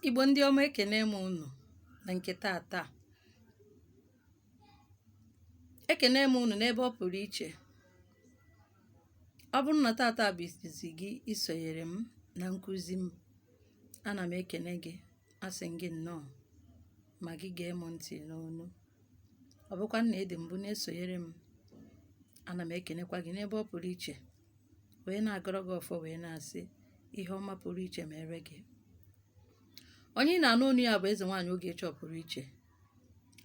Igbo ndị ọma ekene m unu na nke tata ekene m unu n'ebe ọ pụrụ iche ọ bụrụ na tata bụ izizi gị isonyere m na nkụzi m ana m ekene gị asị m gị nnọọ ma gị gee m ntị n'onu ọ bụkwa na ị dị mbụ na-esonyere m ana m ekenekwa gị n'ebe ọ pụrụ iche wee na-agọrọ gị ọfọ wee na-asị ihe ọma pụrụ iche meere gị onye ị na-anụ onu ya bụ eze nwaanyị Ogechukwu pụrụ iche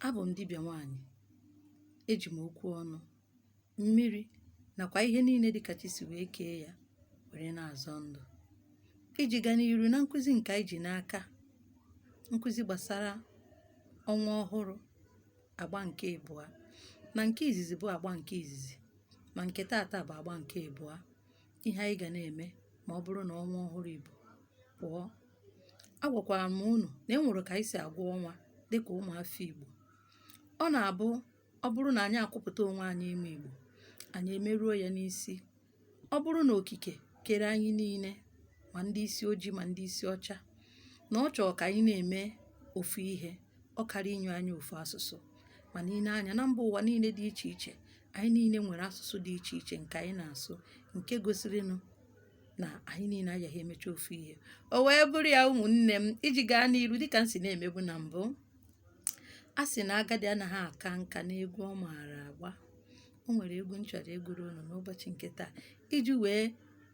abụ m dibịa nwaanyị eji m okwu ọnụ mmiri nakwa ihe niile dịka chi si wee kee ya were na-azọ ndụ iji gaa n'iru na nkụzi nke anyị ji n'aka nkụzi gbasara ọnwa ọhụrụ agba nke ịbụa na nke izizi bụ agba nke izizi ma nke taata bụ agba nke ịbụa ihe anyị ga na-eme ma ọ bụrụ na ọnwa ọhụrụ Igbo pụọ agwakwara m unu na e nwere ka anyị si agụ ọnwa dịka ụmụafọ Igbo ọ na-abụ ọ bụrụ na anyị akwụpụta onwe anyị ime Igbo anyị emeruo ya n'isi ọ bụrụ na okike kere anyị niile ma ndị isi ojii ma ndị isi ọcha na ọ chọrọ ka anyị na-eme ofu ihe ọ kara inye anyị ofu asụsụ ma nenee anya na mba ụwa niile dị iche iche anyị niile nwere asụsụ dị iche iche nke anyị na-asụ nke gosirinụ na anyị niile agaghị emecha ofu ihe o wee bụrụ ya ụmụnne m iji gaa n'iru dịka m si na-emebu na mbụ a sị na agadi anaghị aka nka n'egwu ọ maara agba o nwere egwu m chọrọ ịgụrụ unu n'ụbọchị nke taa iji wee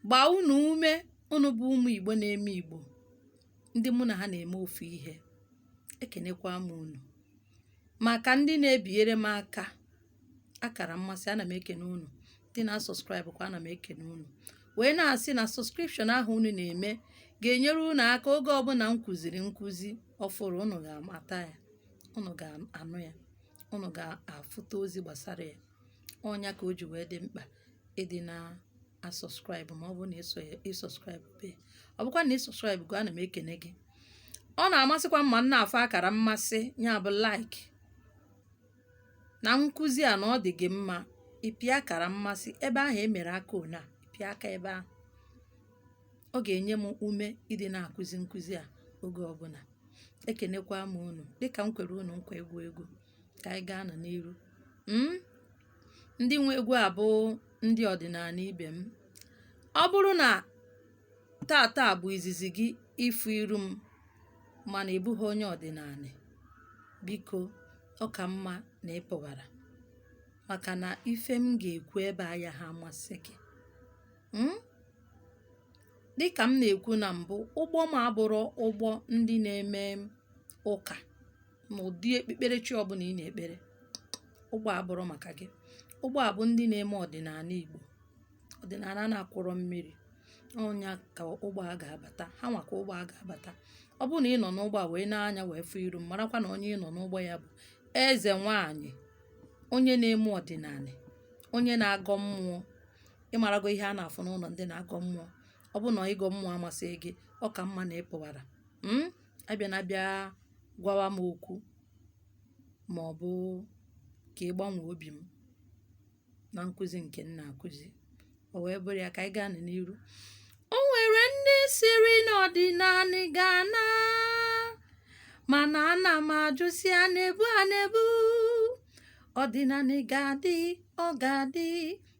gbaa unu ume unu bụ ụmụ igbo na-eme igbo ndị mụ na ha na-eme ofu ihe ekenekwa m unu maka ndị na-ebinyere m aka akara mmasị ana m ekene unu ndị na-asubscribe kwa ana m ekene unu wee na-asị na subscription ahụ unu na-eme ga-enyere unu aka oge ọbụla m kụziri nkụzi ọfụrụ unu ga-amata ya unu ga-anụ ya unu ga-afụta ozi gbasara ya ọ nya ka o ji wee dị mkpa ịdị na-asubscribe ma ọ bụrụ na ị subscribe be ọ bụkwa na ị subscribe go ana m ekene gị ọ na-amasịkwa m ma m na-afụ akara mmasị ya bụ like na nkụzi a na ọ dị gị mma ị pịa akara mmasị ebe ahụ e mere aka one a ị pịa aka ebe ahụ ọ ga-enye m ume ịdị na-akụzi nkụzi a oge ọbụla ekenekwa m unu dịka m kwere unu nkwa ịgụ egwu ka anyị gaanụ n'iru mm? ndị nwe egwu a bụ ndị ọdịnanị ibe m ọ bụrụ na tata bụ izizi gị ịfụ iru m mana ị bụghị onye ọdịnanị biko ọ ka mma na ị pụwara maka na ife m ga-ekwu ebe a ayaha amasị gị mm? dịkà m nà-èkwu nà m̀bụ ụgbọ m abụrọ ụgbọ ndị na-eme ụkà nà ụ̀dị ekpekpere chi ọbụlà ị nà-èkpere ụgbọ à abụrọ màkà gị ụgbọ à bụ ndị na-eme ọ̀dị̀nàna ìgbò ọ̀dị̀nàna a na-akwọrọ mmiri ọ nya kà ụgbọ a gà-àbàta ha nwà kà ụgbọ a gà-àbàta ọ bụrụ nà ị nọ̀ n'ụgbọ à wèe na-anya wèe fụ iru m marakwa nà onye ị nọ̀ n'ụgbọ ya bụ̀ ezè nwaànyị̀ onye na-eme ọ̀dị̀nàna onye na-agọ mmụọ ịmarago ihe a na-afụ n'ụlọ ndị na-agọ mmụọ ọ bụ na ịgọ mmụọ amasịghị gị ọ ka mma na ị pụwara hmm? abịana abịa gwawa m okwu ma ọ bụ ka ị gbanwee obi m na nkụzi nke m na-akụzi o wee bụrụ ya ka anyị gaa n'iru o nwere ndị sịrị na ọdịnala ga-ana mana ana m ajụ sị ana ebee ana ebee ọdịnala ga-adị ọ ga-adị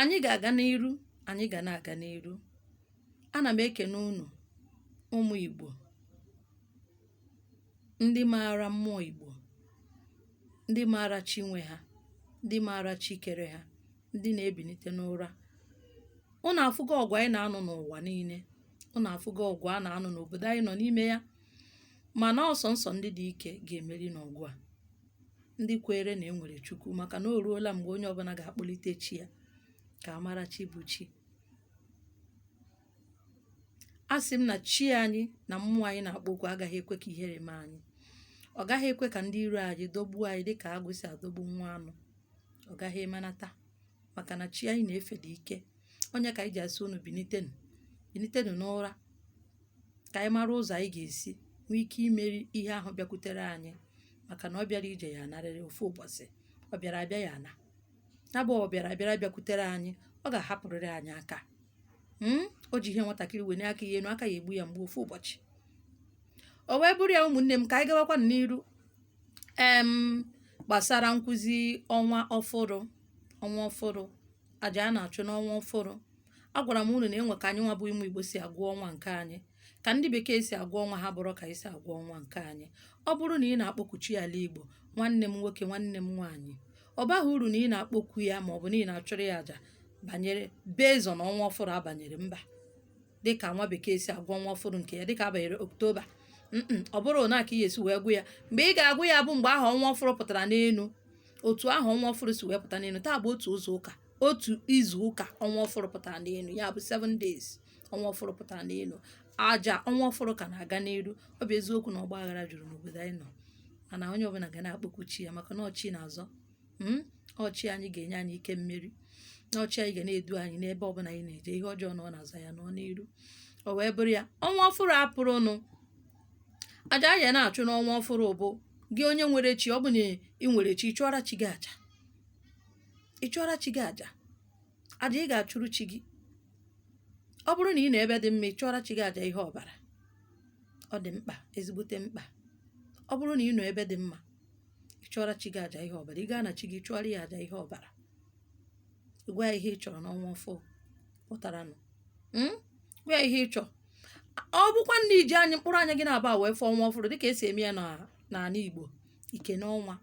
Anyị ga-aga n'iru, anyị ga na-aga n'iru. Ana m ekene unu ụmụ Igbo, ndị maara mmụọ Igbo, ndị maara chi nwe ha, ndị maara chi kere ha, ndị na-ebinite n'ụra. Unu afụgo ọgụ anyị na-anụ n'ụwa niile, unu afụgo ọgụ a na-anụ n'obodo anyị nọ n'ime ya, mana ọ sọnsọ ndị dị ike ga-emeri n'ọgụ a. ndị kweere na e nwere Chukwu maka na o ruola mgbe onye ọbụla ga-akpọlite chi ya ka a mara chi bụ chi asị m na chi anyị na mmụọ anyị na-akpọku agaghị ekwe ka ihere mee anyị ọ gaghị ekwe ka ndị iro anyị dọgbuo anyị dịka agụ si adọgbu nwa anụ ọ gaghị emenata maka na chi anyị na-efe dị ike ọ nya ka anyị ji asị unu binitenu binitenu n'ụra ka anyị mara ụzọ anyị ga-esi nwee ike imeri ihe ahụ bịakwutere anyị maka na ọ bịara ije ya-anarịrị ofu ụbọchị ọ bịara abịa ya-ana ya bụ ọ bịara abịara bịakwutere anyị ọ ga-ahapụrịrị anyị aka hmm? o ji ihe nwatakịrị wenie aka ya enu aka ya-egbu ya mgbu ofu ụbọchị o wee bụrụ ya ụmụnne m ka anyị gawakwa n'iru em gbasara nkụzi ọnwa ọfụrụ ọnwa ọfụrụ aja a na-achụ n'ọnwa ọfụrụ agwara m unu na e nwe ka anyị nwa bụ ụmụ Igbo si agụ ọnwa nke anyị ka ndị bekee si agụ ọnwa ha abụrọ ka anyị si agụ ọnwa nke anyị ọ bụrụ na ị na-akpọku chi ala Igbo nwanne m nwoke nwanne m nwaanyị ọ baghị uru na ị na-akpọku ya ma ọ bụ na ị na-achụrụ ya aja banyere based on ọnwa ọfụrụ a banyere mba dịka nwa bekee si agụ ọnwa ọfụrụ nke ya dịka a banyere oktoba ọ bụrọ nya ka ị esi wee gụ ya mgbe ị ga-agụ ya bụ mgbe ahụ ọnwa ọfụrụ pụtara n'elu otu ahụ ọnwa ọfụrụ si wee pụta n'elu taa bụ otu izu ụka otu izu ụka ọnwa ọfụrụ pụtara n'elu ya bụ 7 days ọnwa ọfụrụ pụtara n'elu aja ọnwa ọfụrụ ka na-aga n'iru ọ bụ eziokwu na ọgba aghara juru n'obodo anyị nọ mana onye ọbụla ga na-akpọku chi ya maka na ọ chi na-azọ mm, ọ chi anyị ga-enye anyị ike mmeri na ọ chi anyị ga na-edu anyị n'ebe ọbụla anyị na-eje ihe ọjọọ nọrọ n'azụ anyị nọ n'iru o wee bụrụ ya ọnwa ọfụrụ apụrụnụ aja ya na-achụ n'ọnwa ọfụrụ bụ gị onye nwere chi ọ bụ na ị nwere chi ị chụọra chi gị aja ị chụọra chi gị aja aja ị ga-achụrụ chi gị ọ bụrụ na ị nọ ebe dị mma ị chụọra chi gị aja ihe ọbara ọ dị mkpa ezigbote mkpa ọ bụrụ na ị nọ ebe dị mma ị chụọra chi gị aja ihe ọbara ị gaa na chi gị chụọra ya aja ihe ọbara gwa ya ihe ị chọrọ n'ọnwa ọfụrụ pụtaranụ hmm? gwa ya ihe ị chọrọ ọ bụkwa na i ji anyị mkpụrụ anya gị naabọ wee fụọ ọnwa ọfụrụ dịka e si eme ya n'ala Igbo i kenee ọnwa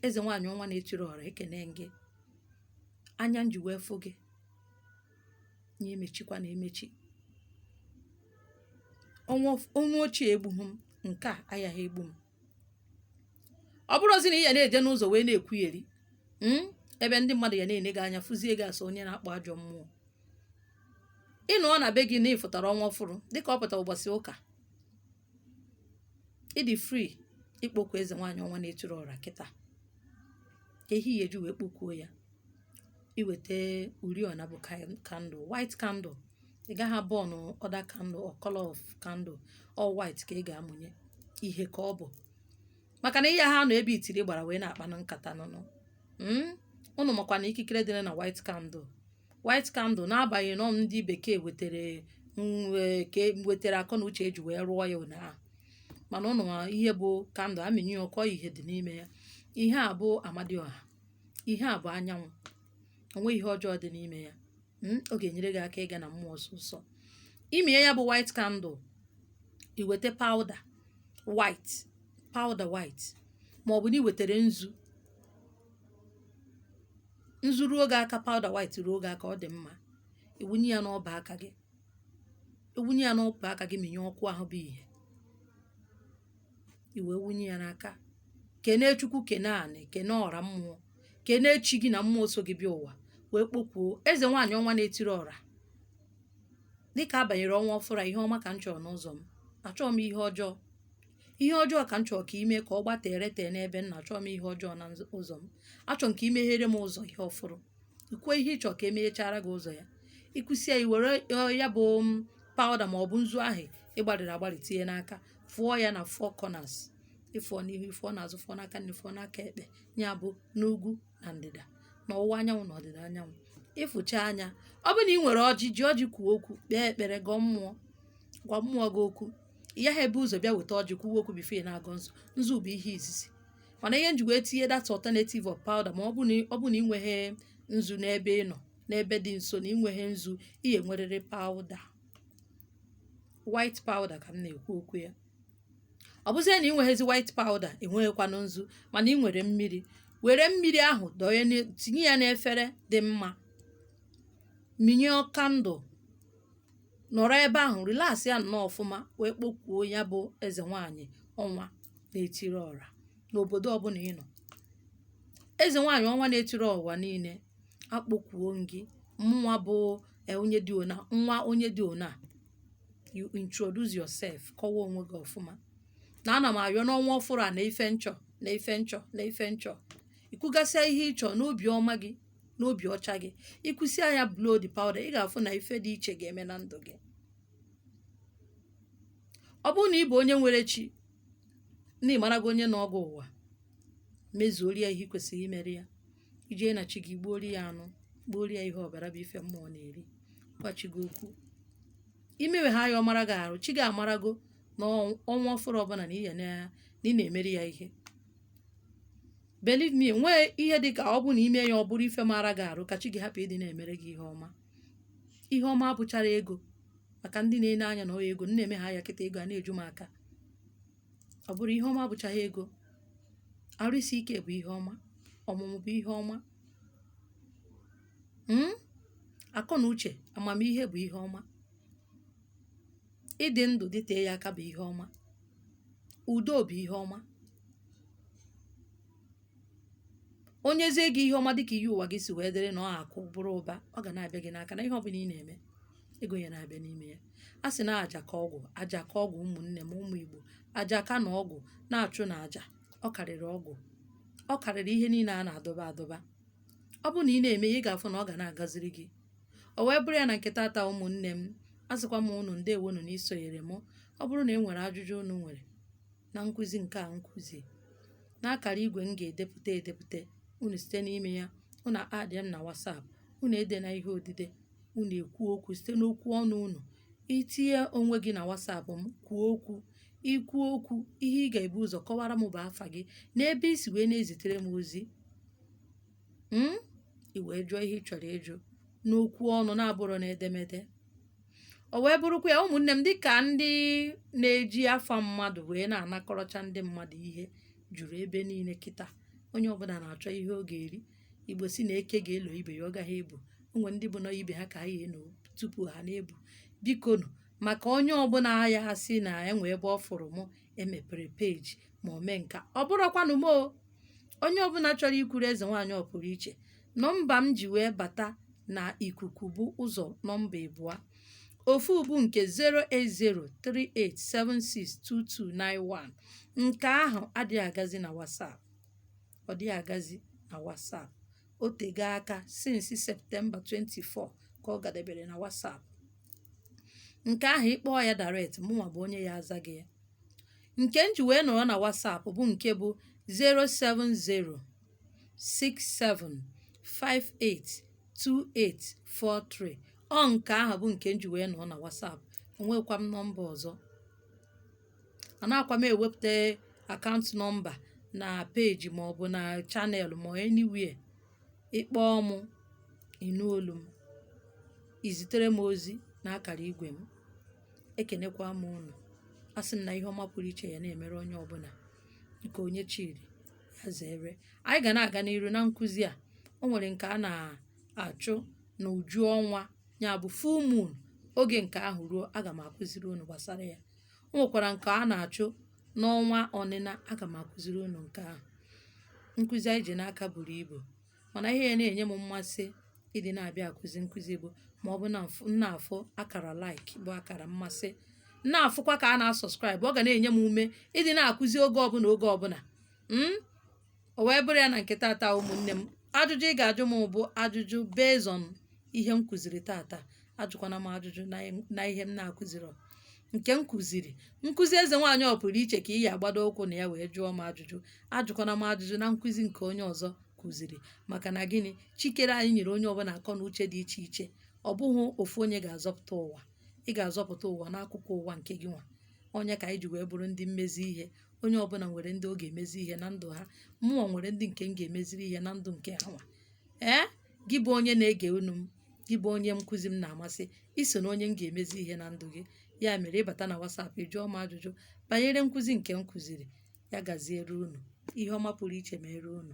eze nwaanyị ọnwa na-etiri ọra ekene m gị anya m ji wee fụ gị nya emechikwana emechi ọnwa of- ọnwa ochie egbughị m nke a ayaghị egbu m ọ bụrụzị na ị ya na-eje n'ụzọ wee na-ekwugheri mm, ebe ndị mmadụ ya na-ene gị anya fụzie gị as onye na-akpọ ajọ mmụọ ị nọ na be gị na ị fụtara ọnwa ọfụrụ dịka ọ pụtara ụbọchị ụka ị dị free ịkpọku eze nwaanyị ọnwa na-etiri ọra kịta ihe ị ya-eji wee kpọkuo ya i weta oriọna bụ kan- candle white candle ị gaghị a-burn other candle or color of candle all white ka ị ga-amụnye ihe ka ọ bụ maka na ị yaghị anọ ebe itiri gbara wee na-akpanụ nkata nụnụ Mm? unu makwa na ikikere dị na white candle white candle n'agbanyeghị na ọ ndị bekee wetara nke wetara akọ na uche e ji wee rụọ ya ụnyaahụ mana ụnụ ma ihe bụ candle a mịnye ọkụ ihe dị n'ime ya ihe a bụ amadioha ihe a bụ anyanwụ o nweghị ihe ọjọọ dị n'ime ya mm, ọ ga-enyere gị aka ịga na mmụọ ọsọsọ i mie ya bụ white candle i weta powder white powder white ma ọ bụ na i wetara nzu nzu ruo gị aka powder white ruo gị aka ọ dị mma i wunye ya n'ọba aka gị i wunye ya n'ọba aka gị minye ọkụ ahụ bụ ihe i wee wunye ya n'aka kenee chukwu kenee anị kenee ọra mmụọ kenee chi gị na mmụọ so gị bịa ụwa wee kpọkuo eze nwaanyị ọnwa na-etiri ọra dịka a banyere ọnwa ọfụrụ a, ihe ọma ka m chọrọ n'ụzọ m achọghị m ihe ọjọọ ihe ọjọọ ka m chọrọ ka ime ka ọ gbatere tee n'ebe m nọ achọọ m ihe ọjọọ na nz- ụzọ m achọrọ m ka i meghere m ụzọ ihe ọfụrụ i kwuo ihe ị chọrọ ka e meghechara gị ụzọ ya i kwusịa i were ọ, ya bụ m, powder ma ọ bụ nzu ahụ ị gbarịrị agbarị tinye n'aka fụọ ya na four corners ị fụọ n'ihu ị fụọ n'azụ fụọ n'aka nri fụọ n'aka ekpe ya bụ n'ugwu na ndịda na ọwụwa anyanwụ na ọdịda anyanwụ ị fụchaa ya ọ bụrụ na ị nwere ọjị ji ọjị kwuo okwu kpee ekpere gọọ mmụọ gwa mmụọ gị okwu ị gaghị ebu ụzọ bịa weta ọjị kwuwe okwu before ị na-agọ nzu nzu bụ ihe izizi mana ihe m ji wee tinye that alternative of powder ma ọ bụ na ọ bụ na ị nweghị nzu n'ebe ị nọ n'ebe dị nso na ị nweghị nzu ị ya-ewerịrị powder white powder ka m na-ekwu okwu ya ọ bụzie na ị nweghịzi white powder ị nweghịkwanụ nzu mana ị nwere mmiri were mmiri ahụ dọnye n'e- tinye ya n'efere dị mma minye candle nọrọ ebe ahụ relax ya nnọọ ọfụma wee kpọkuo ya bụ eze nwaanyị ọnwa na-etiri ọra n'obodo ọbụla ị nọ eze nwaanyị ọnwa na-etiri ụwa niile akpọkuo m gị mụnwa bụ e, onye dị ona nwa onye dị ona you introduce yourself kọwaa onwe gị ọfụma na ana m ayọ n'ọnwa ọfụrụ a na ife m chọ na ife m chọ na ife m chọ i kwugasịa ihe ị chọ n'obi ọma gị n'obi ọcha gị i kwusịa ya blow the powder ị ga-afụ na ife dị iche ga-eme na ndụ gị ọ bụrụ na ị bụ onye nwere chi na ị marago onye nọ gị ụwa mezuoro ya ihe ị kwesịrị imere ya i jee na chi gị gbuoro ya anụ gbuoro ya ihe ọbara bụ ife mmụọ na-eri gwa chi gị okwu i mewe ha ya ọ mara gị arụ chi gị amarago na ọnwa ọfụrụ ọbụla na ị na-emere ya ihe believe me nwee ihe dị ka ọ bụ na i mee ya ọ bụrụ ife mara gị arụ ka chi gị hapụ ịdị na-emere gị ihe ọma ihe ọma abụcharọ ego maka ndị na-ene anya na ọ ego m na-eme ha ya kịta ego a na-eju m aka ọ bụrụ ihe ọma abụcharọ ego arụ isi ike bụ ihe ọma ọmụmụ bụ ihe ọma mm? akọ na uche amamihe bụ ihe ọma ịdị ndụ dịtee ya aka bụ ihe ọma, udo bụ ihe ọma. O nyezie gị ihe ọma dị ka iyi ụwa gị si wee dịrị na ọ akụ bụrụ ụba, ọ ga na-abịa gị n'aka na ihe ọbụla ị na-eme, ego ya na-abịa n'ime ya. A sị na aja ka ọgwụ, aja ka ọgwụ ụmụnne m, ụmụ Igbo. Aja ka na ọgwụ na-achụnụ aja, ọ karịrị ọgwụ. Ọ karịrị ihe niile a na-adọba adọba. Ọ bụrụ na ị na-eme ya, ị ga-afụ na ọ ga na-agaziri gị. o wee bụrụ ya na nke tata ụmụnne m asịkwa m unu ndewonu na isonyere m ọ bụrụ na e nwere ajụjụ unu nwere na nkụzi nke a nkụzi n'akara igwe m ga-edepụta edepụta unu site n'ime ya unu add m na WhatsApp unu edena ihe odide unu ekwuo okwu site n'okwu ọnụ unu i tinye onwe gị na WhatsApp m kwuo okwu i kwuo okwu ihe ị ga-ebu ụzọ kọwara m bụ afa gị na ebe i si wee na-ezitere m ozi mm i wee jụọ ihe ị chọrọ ịjụ n'okwu ọnụ na-abụrọ n'edemede o wee bụrụkwa ya ụmụnne m dịka ndị na-eji afa mmadụ wee na-anakọrọcha ndị mmadụ ihe juru ebe niile kịta onye ọbụla na-achọ ihe ọ ga-eri igbo si na eke ga-elo ibe ya ọ gaghị ebu o nwe ndị bụ na ibe ha ka ha ga-eno tupu ha na-ebu bikonu maka onye ọbụla ya asị na e nwe ebe ọ fụrụ mụ emepere peji ma o mee nka ọ bụrọkwanụ mụ o onye ọbụla chọrọ ikwuru eze nwaanyị ọ pụrụ iche nọmba m ji wee bata na ikuku bụ ụzọ nọmba ịbụọ ofu bụ nke 08038762291 nke ahụ adịghị agazi na WhatsApp ọ dịghị agazi na WhatsApp o tego aka since Septemba 24 ka ọ gadebere na WhatsApp nke ahụ ị kpọọ ya direct mụnwa bụ onye ya aza gị ya nke m ji wee nọrọ na WhatsApp bụ nke bụ 07067582843 ọ nke ahụ bụ nke m ji wee nọrọ na WhatsApp enweghịkwa m nọmba ọzọ anaghịkwa m ewepụta akaụntụ nọmba na peji maọbụ na channel ma ọ anywhere ị kpọọ mụ, ị nụ olu m, ị zitere m ozi n'akara igwe m. Ekenekwa m unu. Asị m na ihe ọma pụrụ iche ya na-emere onye ọbụla nke onye chiri ya zere. Anyị ga na-aga n'iru na nkụzi a. O nwere nke a na-achụ n'uju ọnwa ya bụ full moon. Oge nke ahụ ruo, aga m akụziri unu gbasara ya. O nwekwara nke a na-achụ n'ọnwa ọnịna aga m akụziri unu nke ahụ nkụzi anyị ji n'aka buru ibu mana ihe ya na-enye m mmasị ịdị na-abịa akụzi nkụzi bụ ma ọ bụ na m na-afụ akara like bụ akara mmasị m na-afụkwa ka a na-asọskraịbụ ọ ga na-enye m ume ịdị na-akụzi oge ọbụla oge ọbụla mm? o wee bụrụ ya na nke tata ụmụnne m ajụjụ ị ga-ajụ m bụ ajụjụ based on ihe m kụziri tata ajụkwana m ajụjụ na ihe- na ihe m na-akụzirọ nke m kụziri nkụzi eze nwaanyị ọ pụrụ iche ka ị ya agbado ụkwụ na ya wee jụọ m ajụjụ ajụkwana m ajụjụ na nkụzi nke onye ọzọ kụziri maka na gịnị chi kere anyị nyere onye ọbụla akọ na uche dị iche iche ọ bụghị ofu onye ga-azọpụta ụwa ị ga-azọpụta ụwa n'akụkụ ụwa nke gịnwa ọ nya ka anyị ji wee bụrụ ndị mmezi ihe onye ọbụla nwere ndị ọ ga-emezi ihe na ndụ ha mụnwa nwere ndị nke m ga-emeziri ihe na ndụ nke ha nwa ee gị bụ onye na-ege onu m gị bụ onye nkụzi m na-amasị i so na onye m ga-emezi ihe na ndụ gị ya mere ị bata na WhatsApp ị jụọ m ajụjụ banyere nkụzi nke m kụziri ya gaziere unu ihe ọma pụrụ iche mere unu